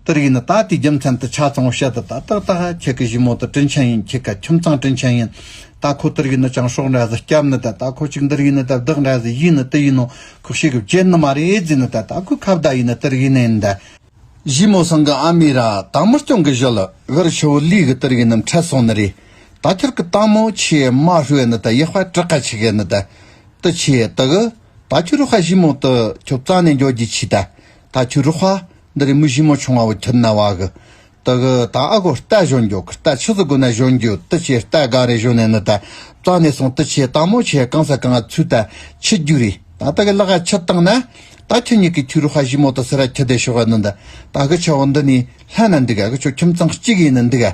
ཏུ་རིག་ནི་ད་ལྟའི་རྒྱུ་མཚན་དུ་ཆ་ཚང་བ་བཤད་དུ་ད་ལྟ་ད་ཧ་ཁྱེད་ཀྱི་གཞི་མོ་ཏི་དྲིན་ཆེན་ཡིན་ཁྱེད་ཀྱི་ཁྱིམ་ཚང་དྲིན་ཆེན་ཡིན་ད་ཁོ་ཏུ་རིག་ནི་ཅང་ཤོག་འདྲ་ཟི་སྐྱབས་ནི་ད་ད་ཁོ་གཅིག་འདི་རིག་ནི་ད་བདག་འདྲ་ཟི་ཡིན་ནི་ཏི་ཡིན་ནོ་ཁོ་ཤེས་གི་བྱེད་ནི་མ་རེད་རྫི་ནི་ད་ད་ཁོའི་ཁ་བརྡ་ཡིན་ནི་ཏི་རིག་ནི་འདི་གཞི་མོ་སང་གི་ཨ་མེ་ར་དང་མི་སྐྱོང་གི་གཞོ་ལི་བེར་ཆུ་བོ་ལུས་གི་ཏི་རིག་ནི་འཕྲད་སོང་ནི་རེད་ད་ཁྱེད་ཀྱི་ཏང་མོ་ཆེ་མ་ཧྲུའེ་ནི་ད་ཡེ་དཔའ་གྲི་ཁ་ཆེ་གི་ནི་ད་ཏི་ཆེ་ཏི་གི་ད་ཁྱོད་རུ་ཧ་གཞི་མོ་ཏི་ཁྱོད་རྩ་ནས་འཇོག་རྒྱུ་ཆེ་ད་ད་ཁྱོད་རུ་ཧ། འདི་རེ་མུ་བཞི་མོ་ཆུང་བ་བུ་ཁྱོད་ན་བ་གི། དི་གི་ད་ཨ་གོ་རྟ་བཞོན་རྒྱོ་གི་རྟ་ཆུ་ཟི་གོ་ན་བཞོན་རྒྱུ་དི་ཆེ་རྟ་ག་རེ་བཞོན་ནས་ནི་ད་ཙ་ནས་སོང་དི་ཆེ་ད་མོ་ཆེ་གང་ས་གང་ཨ་ཚུད་ད་ཆི་རྒྱུ་རེ་ད་ད་གི་ལག་ཨ་ཆི་བཏང་ན། ད་ཁྱོད་གཉིས་གི་ཁྱོད་རུ་ཧ་བཞི་མོ་ད་སེ་ར་ཁྱི་དེ་ཤོག་ཨ་ནི་ད་ད་གི་ཆ་བོ་འདི་ནི་ལྷ་ན་འདུག་ཨ་གི་ཆོ་ཁྱིམ་ཚང་གཅིག་ཡིན་ནི་འདུག་ཨ།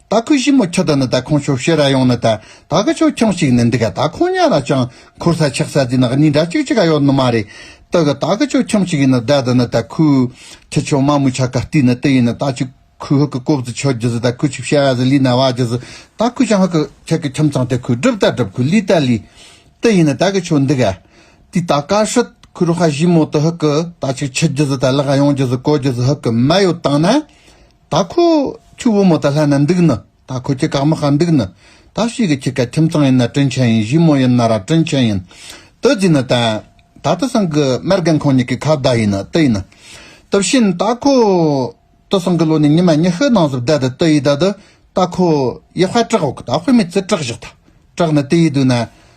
ད་ཁུ་ཞི་མོ་ཁྱོ་ད་ནི་ད་ཁོང་ཆོ་བཤེ་ར་ཡོང་ནི་ད་ད་ག་ཆོ་ཁྱང་ཞིག་ནི་འདི་ག་ད་ཁོང་ཉ་ར་ཅང་འཁོར་ས་ཆག་ས་དེ་ནི་གཉིས་འདྲ་ཅིག་ཅིག་ག་ཡོག་ནི་མ་རེད་ད་གི་ད་ག་ཆོ་ཁྱང་ཞིག་ཡིན་ནི་ད་ད་ནི་ད་ཁུ་ཁྱི་ཆོ་མ་མུ་ཆ་ག་ཏི་ནི་ཏི་ཡིན་ནི་ད་ཆུ་ཁུ་ཧི་གི་ཀོབ་ཛི་ཆོ་རྒྱུ་ཟི་ད་ཁུ་ཆུ་བཤེ་ར་ཟི་ལི་ན་བ་རྒྱུ་ཟི་ད་ཁུ་ཞང་ཧི་གི་ཁྱི་གི་ཁྱིམ་ཚང་དེ་ཁུ་སྒྲུབ་ད་སྒྲུབ་ཁུ་ལི་ད་ལི་ཏི་ཡིན་ནི་ད་གི་ཆོ་འདི་ག་དི་ད་ག་ཧྲིད་ཁུ་རུ་ཧ་ཞི་མོ་ཏི་ཧི་གི་ད་ཆུ་ཁྱི་རྒྱུ་ཟི་ད་ལི་ག་ཡོང་རྒྱུ་ཟི་གོ་རྒྱུ་ཟི་ཧི་གི་མ་ཡོ་ཏང་ན་ད་ཁོ་ཁྱི་བུ་མོ་ད་ལྷ་ན་འདུག་ནི་ད་ཁོ་ཁྱི་གག་མི་ཧ་འདུག་ནི་ད་བྱིས་ཀྱི་ཁྱི་ག་ཁྱིམ་ཚང་ཡིན་ན་དྲིན་ཆེན་ཡིན་བྱིས་མོ་ཡིན་ན་ར་དྲིན་ཆེན་ཡིན་དུ་རྫིས་ནི་དན་ད་དུ་སང་གི་མར་རྒན་ཁོང་གཉིས་ཀྱི་ཁ་བརྡ་ཡིན་ནི་དུ་ཡིན་ནི་དུ་བྱིན་ད་ཁོ་དུ་སང་གི་ལོ་ནི་ཉི་མ་ཉི་ཤུ་ནང་བཟོ་བརྡ་དུ་དུ་ཡིས་ད་དུ་ད་ཁོ་ཡི་དཔའ་དྲག་བོ་གི་ད་དཔེ་མི་ཚུ་དྲག་བཞག་ད་དྲག་ནི་དུ་ཡིས་དུ་ན་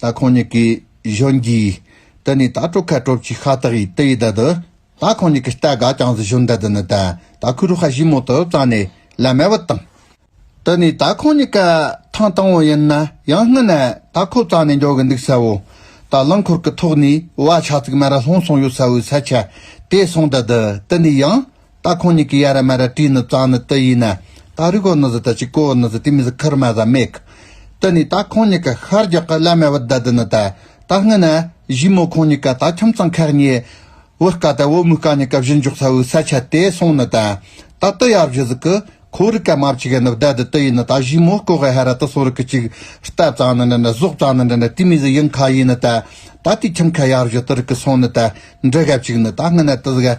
ད་ཁོང་གཉིས་ཀྱི་གཞོན་གྱིས། དེ་ནས་ད་སྤྲོ་ཁ་སྤྲོ་ཅིག་ཤ་སྟག་ཡིས་དེ་ཡི་དལ་དུ། ད་ཁོང་གཉིས་ཀྱི་རྟ་དགའ་ཅང་ཟི་ཞོན་དལ་དུ་ནི་དལ་ད་ཁུ་རུ་ཧ་ཞིག་མོ་དུ་བཙགས་ནས་ལ་མལ་བུ་བཏང། དེ་ནས་ད་ཁོང་གཉིས་ཀ་ཐང་དང་བོ་ཡིན་ན་ཡང་སྔུན་ནས་ད་ཁོ་བཙགས་ནས་འགྱོ་གི་འདུག་ས་བོ། ད་རླངས་འཁོར་གྱི་ཐོག་ནས་བ་ཕྱག་ཚིག་མ་ར་ལྷུང་སོང་ཡོད་ས་བོའི་ས་ཆ་དེ་སོང་དལ་དུ་དེ་ནས་ཡང། ད་ཁོང་གཉིས་ཀྱི་ཡ་ར་མ་ར་དྲིས་ནི་གཙང་ནི་དི་ཡིན། ད་རུས་གོ་ནི་ཟི་ད་ཆིག་གོ་འི་ནི་ཟི་དེ་མི་ཟི་ཁིར་མ་ཟ་མེག། དི་ནི་ད་ཁོང་གཉིས་ཀྱི་ཤར་རྒྱག་གི་བླ་མའི་བུ་ད་དི་ནི་ད། ད་སྔི་ན། བཞི་མོ་ཁོང་གཉིས་ཀ་ད་ཁྱིམ་ཚང་ཁག་གཉིས། བུ་དཀའ་ད་བུ་མོ་དཀའ་གཉིས་ཀ་བཞི་འཇོག་ཚ་བུའི་ས་ཆ་དེ་སོང་ནི་ད། ད་དི་ཡ་བཞི་ཟི་ཀི། ཁོ་རི་ཀ་མ་བྱི་ག་ནི་བི་ད་དི་དི་ཡིན་ནི་ད་བཞི་མོ་ཀོ་གི་ཧ་ར་དི་སོ་རི་ཀི་ཅིག། རྟ་གཙང་ནི་འདྲི་ནི་ཟོག་གཙང་ནི་འདྲི་ནི་དི་མི་ཟི་ཡིན་ཁ་ཡིན་ནི་ད། ད་དི་ཁྱིམ་ཁ་ཡ་བཞི་དི་རི་ཀི་སོང་ནི་ད། འདྲི་ག་བྱིག་ནི་ད་སྔི་ན་དི་ཟི་ག།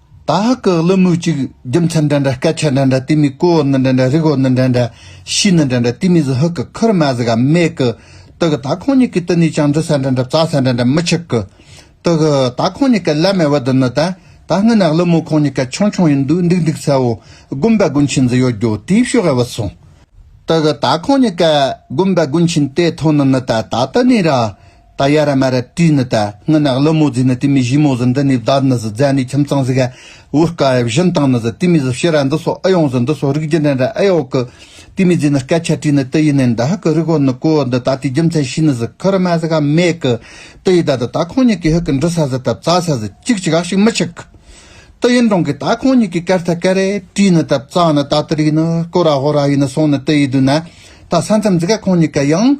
ད་ཧག་གི་གླུ་མོའི་གཅིག། རྒྱུ་མཚན་འདྲ་འདྲ་སྐད་ཆ་འདྲ་འདྲ་དེ་མི་ཀོའོ་ནི་འདྲ་འདྲ་རིག་འོ་ནི་འདྲ་འདྲ། ཤི་ནི་འདྲ་འདྲ་དེ་མི་ཟི་ཧུག་གི་ཁུར་མ་ཟི་ག་མེད་གི། དུ་གི་ད་ཁོང་གཉིས་ཀྱི་དུ་ནས་ཀྱང་འདྲི་ས་འདྲ་འདྲ་བཙའ་ས་འདྲ་འདྲ་མི་ཆགས་གི། དུ་གི་ད་ཁོང་གཉིས་ཀྱི་བླ་མའི་བུ་དུ་ནི་ད་ད་སྔོན་ན་གླུ་མོ་ཁོང་གཉིས་ཀ་ཆུང་ཆུང་ཡིན་དུས་འདུག་འདུག་ཚའོ། དགོན་པ་དགོན་ཆེན་ཟི་ཡོད་རྒྱུ་དེའི་ཕྱོགས་ཨེ་བུད་སོང། དུ་གི་ད་ཁོང་གཉིས་ཀ་དགོན་པ་དགོན་ཆེན་དེ་ཐོག་ནི་ནི་ད་ད་དུ་ནས་ར། ད་ཡ་ར་མ་ར་དྲི་ནི་ད་ངི་ནག་ལི་མོ་ཛི་ནི་ཏི་མི་བཞི་མོ་ཟི་འདི་ནི་བདར་ནི་ཟི་ཛ་ནི་ཁྱིམ་ཚང་ཟི་ག་བུ་དཀའ་ཨེ་བཞི་མདང་ནི་ཟི་ཏི་མི་ཟི་བཤི་ར་འདི་སོ་ཨི་ཡོང་ཟི་འདི་སོ་རིགས་རྒྱུ་འདྲེན་ར་ཨེ་ཡོག་གི་ཏི་མི་ཛི་ནི་སྐད་ཆ་དྲི་ནི་ཏི་ཡི་ནི་འདི་ཧ་གི་རིགས་བོ་ནི་ཀུ་འདི་ད་ཏི་རྒྱུ་མཚན་ཤི་ནི་ཟི་ཁི་ར་མ་ཟི་ག་མེ་གི་ཏི་ཡི་ད་ད་ད་ཁོང་གཉིས་ཀི་ཧི་གི་འདྲི་ས་ཟི་ད་བཙ་ས་ཟི་ཅིག་ཅིག་ཨ་ཞིག་མི་ཞིག་གི་ཏི་ཡི་འདྲོང་གི་ད་ཁོང་གཉིས་ཀི་ཀར་ཐ་ཀར་རེ་དྲི་ནི་ད་བཙ་ནི་ད་ཏི་རིགས་ནི་ཀུ་ར་ཧོ་ར་ཡི་ནི་སོང་ནི་ཏི་ཡི་དུ་ན་ད་ས་མཚམས་ཟི་ག་ཁོང་གཉིས་ཀ་ཡང།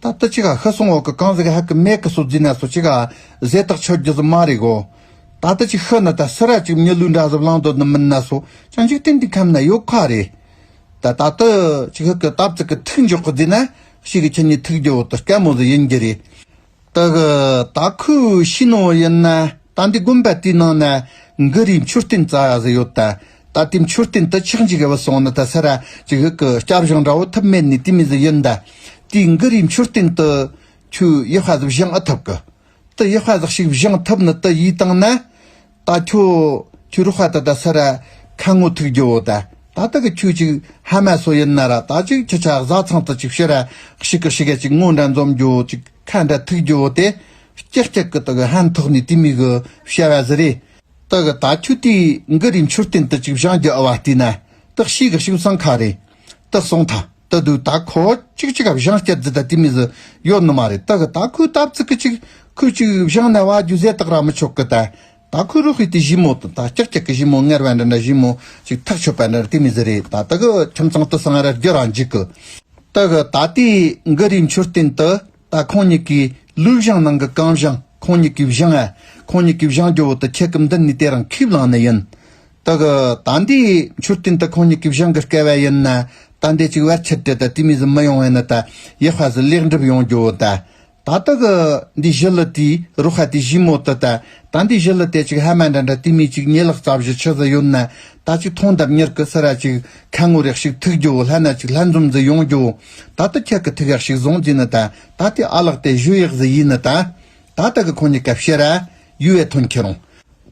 ད་ལྟ་ཅི་ག་ཤི་སོང་འོག་གི་གངས་ཟིག་ཧ་ཀི་མེད་གི་སོ་རྫི་ན་སོ་ཅི་ག་ཟས་ཐག་ཆོད་རྒྱུ་ཟི་མ་རེད་གོ། ད་ལྟ་ཅིག་ཤི་ན་ད་སི་ར་ཅིག་མི་ལུས་འདྲ་ཟི་བླང་དོ་ནི་མིན་ན་སོ་ཅང་འཇིག་རྟེན་འདི་ཁམས་ན་ཡོད་ཁ་རེད། ད་ད་ཏི་ཅིག་ཤི་གི་ཏབ་ཙི་གི་ཐུག་འཇོག་གི་རྫི་ན་ཤི་གི་ཁྱི་གཉིས་ཐུག་རྒྱུ་འོ་ཏི་སྐལ་མོ་ཟི་ཡིན་གྱི་རེད། ཏི་གི་ད་ཁུ་ཤི་ནོ་ཡིན་ན་ད་འདི་དགོན་པ་དེའི་ནང་ན་འགི་རིའི་མཆོད་རྟེན་ཙ་ཟི་ཡོད་ད། ད་ལྟའི་མཆོད་རྟེན་དུ་ཆགས་འཇིག་བ་སོང་ནི་ད་སར་ཅིག་ཧིག་གི་སྐྱབས་གཞུང་འདྲ་བོ་ཐུབ་མེད་ནི་དུས་མི་ཟིག་ཡིན་ད། དུས་འགི་རིའི་མཆོད་རྟེན་དུ། ཁྱོའི་ཡི་ཧ་ཟིག་བཞེངས་ཨི་ཐུབ་གི། དུ་ཡི་ཧ་ཟིག་ཞིག་བཞེངས་ཐུབ་ནི་དུ་ཡིས་དང་ན། ད་ཁྱོ། ཁྱོའི་རུ་ཧ་དུ་ད་སར། ཁ་ངོ་ཐུག་རྒྱུ་བོ་ད། ད་ད་གི་ཁྱོས་ཅིག་ཧ་མ་སོ་ཡིན་ན་ར་ད་ཅིག་ཁྱི་ཆ་གཟའ་ཚང་དུ་ཅིག་བྱེད་ར་ཤིག་གི་ཤི་ག་ཅིག་ངོ་འདྲ་འཛོམས་རྒྱུ་བོ་ཅིག་ཁ་འདྲ་ཐུག་རྒྱུ་བོ་དེ། སྐྱག་སྐྱག་གི་དུ་གི་ཧན་ཐོག་ནི་དུས་མི་གི་བྱ་བ་ཟི་རེད། ཏག་གི་ད་ཁྱོད་དུས་འགའ་རེའི་མཆོད་རྟེན་དུ་ཅིག་བཞག་རྒྱུ་ཨ་བ་ལྟས་ན་ཏག་ཤི་གི་ཤིང་ཚང་ཁ་རེད་ཏག་གསུངས་ཐ་ད་དུས་ད་ཁོ་ཅིག་ཅིག་བཞག་སྐྱར་འཛི་ད་དུས་མི་ཟི་ཡོད་ནི་མ་རེད་ཏག་གི་ད་ཁོའི་ད་བཙི་གི་ཅིག་ཁོས་ཅིག་བཞག་ན་བ་རྒྱུ་ཟས་ཏག་ར་མི་ཆོག་གི་ད་ད་ཁོའི་རུ་ཧི་དུས་བཞི་མོ་དང་ད་ཅག་ཅག་གི་བཞི་མོ་ངར་བ་འདྲ་འདྲ་བཞི་མོ་ཅིག་ཐག་ཆོད་པ་འདྲ་འདྲ་དུས་མི་ཟི་རེད་ད་ཏག་གི་ཁྱིམ་ཚང་དུ་སང་ར་རྒྱུ་ར་འཇིག་གི་ཏག་གི་ད་དུས་འགའ་རེའི་མཆོད་རྟེན་དུ། ད་ཁོང་གཉིས་ཀའི་ལུས་བཞེངས་ནང་གི་རྐང་བཞེངས་ཁོང་གཉིས་ཀའི་བཞེངས་ཨེ། ཁོང་གཉིས་ཀའི་བཞེངས་ཀྱི་འོག་ཏུ་ཁྱེད་ཀྱི་འདི་ནས་དེ་རང་ཁས་བླངས་ནི་ཡིན། དེ་གི་ད་འདིའི་མཆོད་རྟེན་དེ་ཁོང་གཉིས་ཀའི་བཞེངས་ཀྱི་སྐལ་བ་ཡིན་ན། ད་འདི་གཅིག་བར་ཆད་དེ་ད་དུས་མིན་ཟིན་མི་ཡོང་བས་ན་ད་ཡེ་ཧྥ་སུ་ལེགས་འགྲུབ་ཡོང་རྒྱུའོ་ད། ད་དེ་གི་འདི་བཞི་ལི་ཏིའི་རུ་ཧ་དེ་བཞིའི་མོ་དེ་ད་ཟླ་འདི་བཞི་ལ་དེ་གཅིག་ཧ་མ་འདྲ་འདྲ་དུས་མིན་གཅིག་ཉི་ལག་རྩ་བཞི་ཆུ་ཟི་ཡོད་ན་ད་ཅིག་ཐོང་འདབ་ཉེར་གི་སི་ར་གཅིག་ཁ་ངོ་རེག་ཤིག་ཐུག་རྒྱུའོ་ལྷ་ན་ཅིག་ལྷ་འཛོམ་ཟི་ཡོང་རྒྱུའོ་ད་ད་ཁྱེད་ཀྱི་ཐུག་ཡག་ཤིག་བཟུང་རྒྱུ་ནི་ད་ད་དེ་ཨ་ལགས་དེ་བཞུ་ཡག་ཟི་ཡིན་ནི་ད་ད་ད་གི་ཁོང་ཉི་ཀ་བཤད་ར་ཡུ་བའི་ཐོན་ཁྱི་རུང་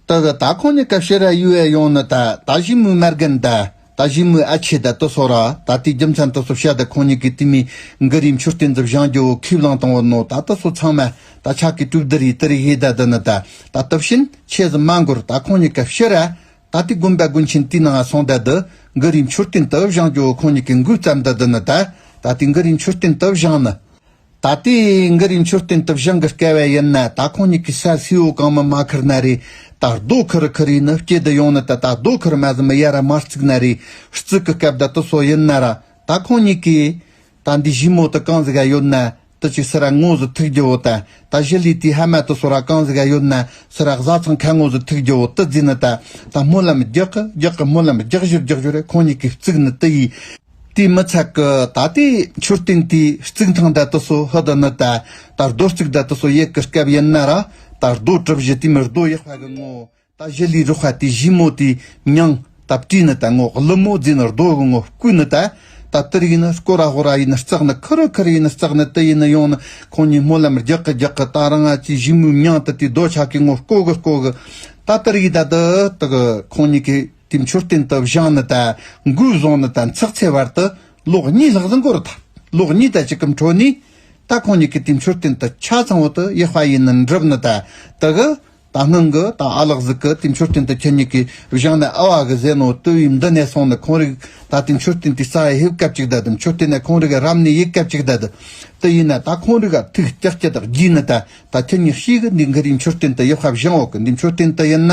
ད་གི་ད་ཁོང་ཉི་ཀ་བཤད་ར་ཡུ་བའི་ཡོང་ནི་ད་ད་བཞི་མུའི་མར་གན་ད། ད་གཞོན་མོའི་ཨ་ཆེ་ད་ཏོ་སོགས་ར་ད་ལྟའི་རྒྱུ་མཚན་ཏོ་སོགས་བཤད་དེ་ཁོང་གཉིས་ཀྱི་ཏི་མི་འགི་རིའི་མཆུ་རྟེན་འདི་བཞེངས་རྒྱུ་བོ་ཁས་བླངས་བཏང་བ་ནོ་ད་ཏོ་སོགས་ཚང་མ་ད་ཆ་གི་སྤྲུལ་བདུད་རི་ཏི་རི་ཧེ་ད་འདི་ནི་ད་ད་ཏོ་བྱིན་ཆེ་ཟི་མ་འགོར་ད་ཁོང་གཉིས་ཀ་ཕྱི་ར་ད་ལྟའི་དགོན་པའི་དགོན་ཆེན་དེའི་ནང་སོང་ད་འདི་འགི་རིའི་མཆུ་རྟེན་ཏི་བཞེངས་རྒྱུ་བོ་ཁོང་གཉིས་ཀྱི་འགུལ་བརྩམས་ད་འདི་ནི་ད་ད་ལྟའི་འགི་རིའི་མཆུ་རྟེན་ཏི་བཞེངས་ནི། ད་ལྟའི་འགར་རིང་མཆོད་རྟེན་དུ་བཞེངས་ཀི་དཀའ་བས་ཡིན་ན་ད་ཁོང་གཉིས་ཀྱི་ས་སེའུ་བོ་གང་མི་མ་ཁུར་ན་རེད། ད་རྡོ་ཁུར་རུ་ཁུར་ཡིན་ནི་སྐྱེ་དུ་ཡོང་ནི་ད་ད་རྡོ་ཁུར་མ་ཟིན་མི་ཡ་ར་མར་བརྩིགས་ན་རེད། བརྩིགས་ཀི་སྐབས་ད་དུ་སོ་ཡིན་ན་ར། ད་ཁོང་གཉིས་ཀྱིས། ད་འདི་བཞི་མོ་དུ་གང་ཟི་ག་ཡོད་ན། དུ་ཅིག་སི་ར་ངོ་ཟི་ཐུག་རྒྱུ་བོ་ད། ད་བཞི་ལི་དེའི་ཧ་མ་དུ་སོ་ར་གང་ཟི་ག་ཡོད་ན། སི་ར་གཟའ་ཚང་ཁ་ངོ་ཟི་ཐུག་རྒྱུ་བོ་དུ་རྫིས་ནི་ད། ད་སྨོན་ལམ་རྒྱག་གི་རྒྱག་གི་སྨོན་ལམ་རྒྱག་བཞུར་རྒྱག་བཞུར་རེད་ཁོང་གཉིས་ཀྱིས་བརྩིགས་ནི་དུ་ཡིས། དེའི་མི་ཚད་ཀྱི་ད་ལྟའི་མཆོད་རྟེན་དེའི་རྩིག་ཐང་འདྲ་དུ་སོ་ཧི་དུ་ནི་ད་ད་རྡོ་རྩིག་འདྲ་དུ་སོ་ཡེ་གི་སྐབས་ཡིན་ན་ར་ད་རྡོ་གྲུབ་བཞི་དེའི་མི་རྡོ་ཡེ་བྷ་གི་ངོ་ད་བཞི་ལས་རུ་བྷ་དེའི་བཞི་མོ་དེའི་མྱང་ད་བཀྲིས་ནི་ད་ངོ་གླུ་མོ་རྫས་ནི་རྡོ་གི་ངོ་སྐུ་ནི་ད་ད་ཏིར་ཡིན་ནི་སྐོ་ར་ཧོ་ར་ཡིན་ནི་རྩག་ནི་ཁི་རི་ཁི་རི་ཡིན་ནི་རྩག་ནི་ཏི་ཡིན་ནི་ཡོང་ནི་ཁོང་གཉིས་སྨོན་ལམ་རྒྱག་གི་རྒྱག་གི་ད་རང་ང་ཅིའི་བཞི་མོའི་མྱང་ད་དེའི་རྡོ་ཆག་གི་ངོ་སྐོ་གི་སྐོ་གི་ད་ཏིར་ཡིན་ད་ཏི་ཏི་གི་ཁོང་གཉིས་ཀྱི། དེའི་མཆོད་རྟེན་དུ་བཞེངས་ནི་དང་མགུལ་བཟུང་ནི་དང་ཚགས་ཚའི་བར་དུ་ལོགས་གཉིས་ལྷག་ཟིན་གོར་ཐག་ལོགས་གཉིས་དང་གཅིག་གམ་འཕྲོ་ནས། ད་ཁོང་གཉིས་ཀྱི་དེའི་མཆོད་རྟེན་དུ་ཆ་ཚང་བོ་དུ་ཡེ་ཧྥ་ཡིས་ནི་འགྲུབ་ནི་དང་དུ་གི་དང་སྣང་གི་དང་ཨ་ལག་གཟུགས་ཀྱི་དེའི་མཆོད་རྟེན་དུ་ཁྱེད་གཉིས་ཀྱིས་བཞེངས་ནི་ཨ་བ་གི་ཟས་ནོར་བཏུལ་བས་འདི་ནས་སོང་ནི་ཁོང་རིག་ད་དེའི་མཆོད་རྟེན་དེའི་རྩ་ཧེབ་སྐབས་ཅིག་དད་དེ་མཆོད་རྟེན་ནས་ཁོང་རིག་རབ་ནས་ཡིད་སྐད་ཅིག་དད་དེ་ཡིན་ན་ད་ཁོང་རིག་ག་ཐུགས་སྐྱག་སྐྱི་དག་བགྱིས་ནི་དང་ད་ཁྱེད་གཉིས་ཤིག་གི་འདི་གི་དེའི་མཆོད་རྟེན་དུ་ཡེ་ཧྥ་བཞེངས་འོག་གི་འདིའི་མཆོད་རྟེན་དུ་ཡིན་ན་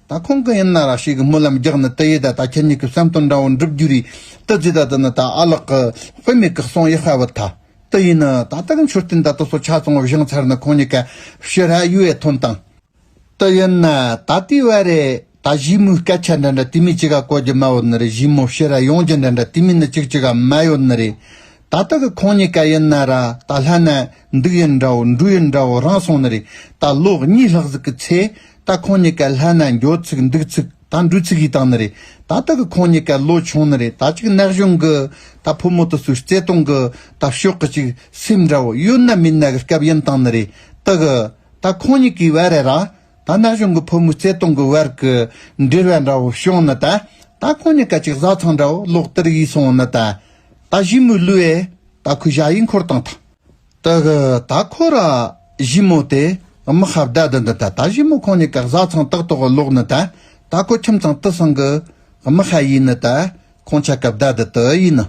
ད་ཁོང་གི་ཡིན་ན་ར་ཤི་གི་སྨོན་ལམ་རྒྱག་ནི་དེ་ཡི་ད་ད་ཁྱེད་གཉིས་ཀྱི་བསམ་དོན་འདྲ་བོ་འགྲུབ་རྒྱུ་རེད་དུ་རྫི་ད་དུ་ནི་ད་ཨ་ལགས་གི་དཔེ་མེད་གི་གསུང་ཡི་ཧ་བུ་ད་དུ་ཡིན་ནི་ད་ད་གི་མཆོད་རྟེན་ད་དུ་སོ་ཆ་ཙང་བ་བཞེངས་ཚར་ནི་ཁོང་གཉིས་ཀ་ཕྱི་ར་ཡུ་ཡེ་ཐོན་དང། དུ་ཡིན་ནི་ད་དུས་བ་རེད་ད་གཞིས་མོའི་སྐད་ཆ་འདྲ་འདྲ་དུས་མིན་ཅི་ག་གོ་རྒྱུ་མ་བུ་ནི་རེད་གཞིས་མོ་ཕྱི་ར་ཡོང་རྒྱུ་འདྲ་འདྲ་དུས་མིན་ནི་ཅིག་ཅིག་ག་མ་ཡོད་ནི་རེད་ད་ད་གི་ཁོང་གཉིས་ཀ་ཡིན་ན་ར་ད་ལྷ་ན་འདུག་ཡིན་འདྲ་བོ་འགྲུ་ཡིན་འདྲ་བོ་རང་སོང་ནི་རེད་ད་ལོ་གཉིས་ལྷག་ཟིག་གི་ཚེ་ད་ཁོང་གཉིས་ཀ་ལྷ་ན་འགྱོ་ཚིག་འདུག་ཚིག་ད་འབྲུ་ཚིག་ཡིས་དང་ནི་རེད་ད་ལྟ་གི་ཁོང་གཉིས་ཀ་ལོ་ཆུང་ནི་རེད་ད་ཅིག་ནག་གཞུང་གི་ད་ཕོ་མོ་ཏི་སུའི་བརྩེ་དུང་གི་ད་ཕྱོགས་གི་ཅིག་སེམས་འདྲ་བོ་ཡོད་ན་མིན་ན་གི་སྐབས་ཡིན་དང་ནི་རེད་ད་གི་ད་ཁོང་གཉིས་ཀའི་བར་རེད་ར་ད་ནག་གཞུང་གི་ཕོ་མོའི་བརྩེ་དུང་གི་བར་གི་འབྲེལ་བ་འདྲ་བོ་བྱུང་ནི་ད་ད་ཁོང་གཉིས་ཀ་ཅིག་བཟའ་ཚང་འདྲ་བོ་ལོག་སྟེར་ཡིས་སོང་ནི་ད་ད་བཞི་མོའི་ལུས་ཨེ་ད་ཁོའི་བྱ་ཡིས་འཁོར་དང་ཐང། དག་ད་ཁོ་ར་བཞི་མོ་དེ་དམག་ཧ་བརྡ་དུ་འདི་ད་ད་བཞི་མོ་ཁོང་ནི་གག་བཟའ་ཚང་ཏག་ཏོག་གི་ལོག་ནི་ད་ད་ཁོ་ཁྱིམ་ཚང་དུ་སང་གི་དམག་ཧ་ཡིན་ནི་ད་ཁོང་ཆ་ག་བརྡ་དུ་དུ་ཡིན་ནི།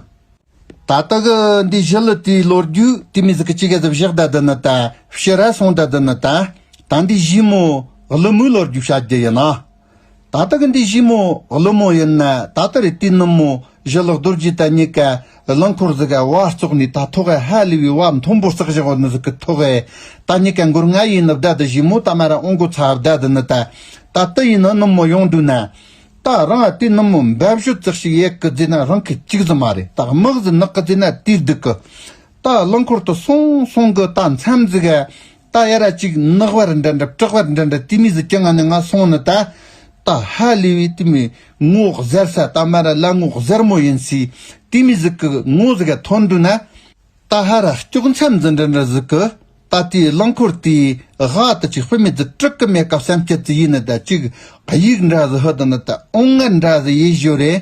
ད་དག་འདི་བཞི་ལི་དུའི་ལོ་རྒྱུ་དུས་མི་ཟི་གི་ཅི་ག་ཟི་བཞག་བརྡ་དུ་ནི་ད་བཞི་ར་སོང་བརྡ་དུ་ནི་ད་ད་འདི་བཞི་མོ་ལི་མོའི་ལོ་རྒྱུ་བྱ་རྒྱུ་ཡིན་ནི། ད་ལྟ་གི་འདི་བཞི་མོ་གླུ་མོ་ཡིན་ན་ད་ལྟ་རི་ཏི་ནུབ་མོ་བཞི་ལག་རྡོར་རྗེ་དང་གཉིས་ཀ་རླངས་འཁོར་ཟིག་ག་བ་བཙོག་ནས་ད་ཐོ་ག་ཧ་ལི་བའི་བ་མཐོན་པོ་བསགས་བཞག་བ་ནི་ཟིག་གི་ཐོ་ག་ད་གཉིས་ཀ་འགུར་ང་ཡིན་ནི་བརྡ་འདི་བཞི་མོ་ད་མ་ར་ཨོང་གོ་ཚ་བརྡ་འདི་ནི་ད་ད་ཏི་ཡིན་ནི་ནུབ་མོ་ཡོང་འདུག་ན་ད་རང་ཨ་ཏི་ནུབ་མོ་འབའ་བཞོ་བཙག་ཤི་ཡས་གི་རྫས་ན་རང་གི་གཅིག་ཟི་མ་རེད་ད་དམག་ཟི་ནག་གི་རྫས་ན་དུས་སྡུག་གི་ད་རླངས་འཁོར་དུ་སོང་སོང་གི་ད་མཚམས་ཟིག་ག་རྟ་ཡ་ར་གཅིག་ནག་བར་འདྲ་འདྲ་བཀྲག་བར་འདྲ་འདྲ་ཏི་མི་ཟི་ཀྱ་ང་ནི་ང་སོང་ནི་ད། ད་ཧ་ལི་བའི་ཏི་མི་ངོ་གཟེར་ས་ད་མ་ར་ལ་ངོ་གཟེར་མོ་ཡིན་སི་ཏི་མི་ཟི་ཀི་ངོ་ཟི་ག་ཐོན་འདུག་ན། ད་ཧ་ར་སྐྱོག་མཚམས་ཟི་འདྲ་འདྲ་ཟི་ཀི་ད་ཏི་རླངས་འཁོར་ཏི་གྷ་ཏི་ཅིག་སྤུ་མེད་ཟི་དྲུག་གི་མེད་སྐབས་སེམས་སྐྱིད་ཟི་ཡིན་ནི་ད་ཅིག་གཡུག་འདྲ་ཟི་ཧུ་ད་ནི་ད་ཨོང་ངར་འདྲ་ཟི་ཡེ་བཞོ་རེད།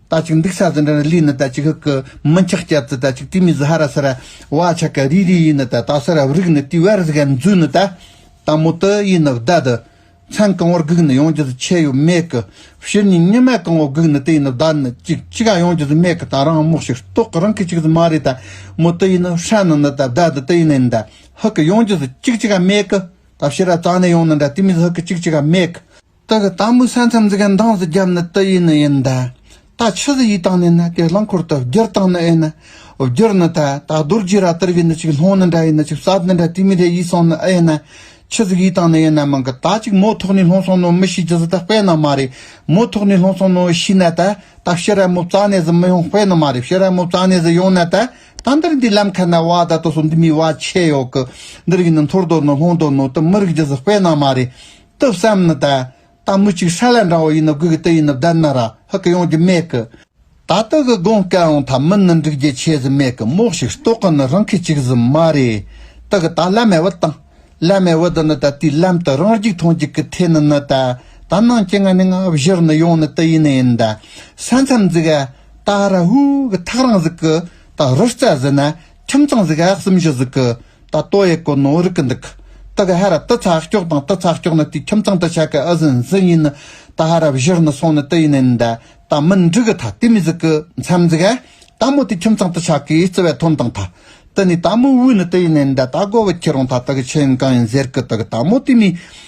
རྟ་ཅིག་འདུག་ས་ཟི་འདྲ་ར་ལི་ནི་རྟ་ཅིག་ཧིག་གི་མི་འཁྱག་སྐྱ་ཙི་རྟ་ཅིག་ཏི་མི་ཟི་ཧ་ར་སི་ར་བ་ཆ་ཀ་རི་རི་ཡི་ནི་རྟ་ཏག་སི་ར་བི་རིག་ནི་ཏི་ཝེར་ཟི་ག་མཛུ་ནི་རྟ་ཏག་མོ་ཏི་ཡི་ནི་བརྡ་དི་ཚན་གང་བོར་གུག་ནི་ཡོང་རྒྱུ་ཟི་ཆེ་ཡོད་མེད་གི་ཕྱིར་ནི་ཉི་མ་གང་བོར་གུག་ནི་ཏི་ཡི་ནི་བརྡ་ནི་ཅིག་ཅི་ག་ཡོང་རྒྱུ་ཟི་མེད་གི་ད་རང་མོག་ཤིག་རྟོག་གི་རང་གི་ཅིག་ཟི་མ་རེད་ད་མོ་ཏི་ཡི་ནི་ཧྲ་ནི་ནི་རྟ་བརྡ་དི་ཏི་ཡི་ནི་ནི་རྟ་ཧིག་གི་ཡོང་རྒྱུ་ཟི་ཅིག་ཅི་ག་མེད་གི་ད་ཕྱི་ར་ཙང་ནི་ཡོང་ནི་འདྲ་ཏི་མི་ཟི་ཧིག་གི་ཅིག་ཅི་ག་མེད་གི། རྟ་གི་སྟག་མོའི་ས་མཚམས་འཛིན་མཁན་འདང་ཟི་བརྒྱབ་ནི་རྟ་ཡིས་ནི་ཡིན་ད། རྟ་ཆུ་ཟི་ཡིས་བཏང་ནས་ནི་དེ་རླངས་འཁོར་དུ་བསྒྱུར་བཏང་ནི་ཨེ་ནི། བསྒྱུར་ནི་ད། ད་རྡོ་རྗེ་ར་ཏིར་བས་ནི་ཅིག་སློང་ནི་འདྲ་ཡིན་ནི་ཅིག་ཟ་ནི་འདྲ་དུས་མི་རེ་ཡིས་སོང་ནི་ཨེ་ནི། ཆུ་ཟི་ཡིས་བཏང་ནི་ཨེ་ནི་མི་འགི་ད་ཅིག་མོ་ཐོག་ནས་སློང་སོང་ནོ་མི་ཤི་ཇི་ཟི་ད་དཔེ་ན་མ་རེད་མོ་ཐོག་ནས་སློང་སོང་ནོ་ཤི་ནི་ད། ད་ཕྱི་ར་མོ་བཙག་ནས་ཟི་མི་ཡོང་དཔེ་ན་མ་རེད་ཕྱི་ར་མོ་བཙག་ནས་ཟི་ཡོང་ནི་ད། ད་འདིར་འདི་ལམ་ཁ་ན་བ་ད་དོ་སོ་འདི་མི་བ་ཆེ་ཡོག་གི། འདིར་གི་ནི་འཐོར་དོ་ནི་སློང་དོ་ནོ་དུ་མི་རིག་ཇི་ཟི་དཔེ་ན་མ་རེད། གཏུབ་བསམ་ནི་ད། ད་མུ་ཅིག་ཧྲ་ལ་འདྲ་བོ་ཡིན་ནོ་གོས་ཀྱི་དུ་ཡིན་ནོ་བདལ་ན་ར་ཧུ་ཀ་ཡོང་རྒྱུ་མེད་གི། ད་དུ་གི་དགོངས་སྐལ་འོང་ཐ་མི་ནི་འགྲིག་རྒྱུ་ཆེ་ཟི་མེད་གི་མོག་ཞིག་ཏོག་གི་ནི་རང་ཁི་ཅིག་ཟི་མ་རེ། ཏི་གི་ད་བླ་མའི་བུ་དང། བླ་མའི་བུ་དི་ནི་ད་དུས་ལམ་དུ་རང་རྒྱུག་ཐོང་རྒྱུག་གི་ཐེ་ནི་ནི་ད། ད་ནང་ཅི་ང་ནི་ང་བཞུར་ནི་ཡོང་ནི་ཏི་ཡིན་ནི་ཡིན་ད། ས་མཚམས་འཛུག་ཨ། ད་ར་ཧུ་ཀི་ཐག་རང་ཟིག་གི། ད་རུ་རྩ་ཟི་ན་ཁྱིམ་ཚང་གཟུགས་གཡག་གསུམ་བཞི་གཟུགས། ཀི་ད་ཏོ་ཡེ་ཀོ་ནོ་རི་ཀི་འདུག། ཏི་གི་ཧ་ར་ཏི་ཚ་སྐྱོག་དང་ཏི་ཚ་སྐྱོག་ནི་དེའི་ཁྱིམ་ཚང་ཏི་ཆ་ཀི་ཨི་ཟི་འཛི་ཡིན་ནི། ཏི་ཧ་ར་བཞི་ནི་སོང་ནི་ཏི་ཡིན་ཨིན་ད་ད་མི་འབྲི་གི་ཐ་ཏི་མི་གཟུགས་ཀི་མཚམས་གཟུགས་གཡ། ད་མོ་དེའི་ཁྱིམ་ཚང་ཏི་ཆ་ཀི་ཨི་ཙི་བའི་ཐོན་དང་ཐ། ཏི་ནི་ད་མོ་དབུས་ནི་ཏི་ཡིན་ཨིན་ད་ད་གོ་བི་ཁྱི་རོང་ཐ་ཏི་གི་ཁྱི་ཡིན་གང་ཡིན་ཟེར་ཀི་ཏི་གི་ད་མོ་དེའི་མི།